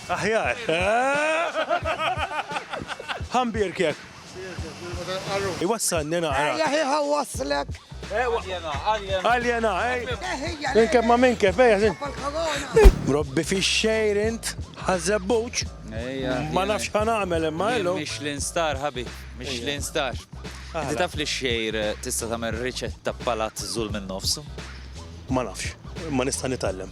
Aħjar. Ħa nbierkek. Iwassalni naqra. Ejja ħieħa wasslek. Aljena, ej. Minn kif ma minn kif, ejja. Robbi fi xejr int, ħazzebbuċ. Ma nafx ħan għamel imma illu. Michelin star, ħabi. Michelin star. Ti taf li xejr eh, tista tagħmel riċetta palat zul minn nofsu? Ma nafx, ma nista' nitgħallem.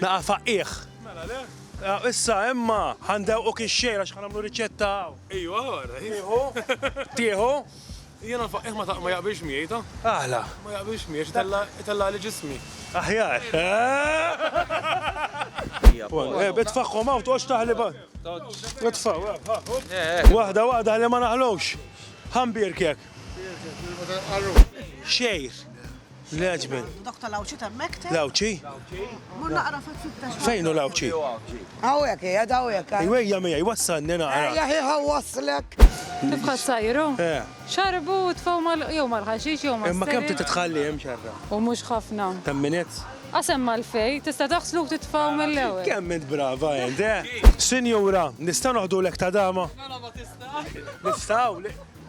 Naqa' faqqigħ. Mela le. Issa imma ħa ndewquk ix-xejn għax ħa nagħmlu riċetta hawn. Ejwa ara. Tieħu? Tieħu? Jiena l-faqqigħ ma taq ma jaqbilx miegħi ta. Aħla. Ma jaqbilx miegħi x'itella itellagħli ġismi. Aħjar. Ebed tfaħħhom hawn toqgħodx taħli ba. Itfgħu, ha, hu. Waħda waħda ħalli ma naħlux. Ħa nbierkek. Xejr. L-Għeġbin. Dok tal-Għawdxi temmek te? L-Għawdxi? Mur naqra fil-fittex. Fejn hu l-Għawdxi? Hawnhekk hija dawhekk. Iwejja miegħi wassalni naqra. Ejja ħieħa wasslek. Kif ħadd sajru? Eh. Xarbu u tfaw mal jew mal-ħaxix jew mal Imma kemm titħalli hemm xarra? U mhux ħafna. Kemm minutes? Qasem mal-fej, tista' taħslu titfaw mill-ewwel. Kemm int brava int, eh? Sinjura, nista' noħdulek ta' dama? Mela ma tista'. Nistgħu?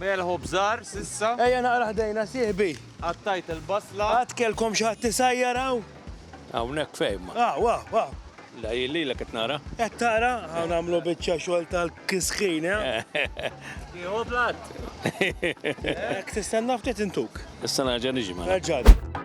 Melħu bżar s'issa. Ejja naqra ħdejna sieħbi. Qattajt il-basla. Qatt kellkom xi ħadd isajjar hawn? Hawnhekk fejn ma. Ah, wa, wa. La jien lilek qed nara. Qed tara? Hawn nagħmlu biċċa xogħol tal-kisħin, eh? Tieħu platt. Hekk tistenna ftit intuk. Issa nerġa' niġi mela. Erġa'.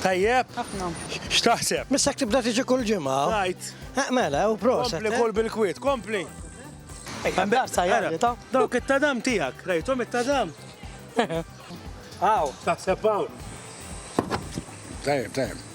Tajjeb? Ħafna. X'taħseb? Missak tibda tiġi kull ġimgħa. Rajt. Eh, mela, u proset. Kompli eh? kull bil-kwiet, kompli. Għandarsa jgħalli ta' dawk it-tadam tijak, rajtom it-tadam. Għaw. Taħseb għaw. Tajjeb, tajjeb.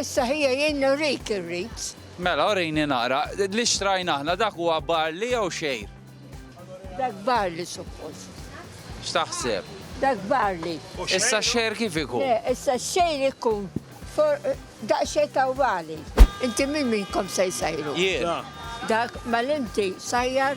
Issa ħija jien nurik ir-rits. Mela urini naqra. Li xtrajna aħna dak huwa barli jew xejr? Dak barli suppost. X'taħseb? Dak barli. Issa xejr kif ikun? Le, issa xejr ikun daqsxejn tawwali. Inti minn minnkom se jsajru? Jien. Dak mal-inti sajjar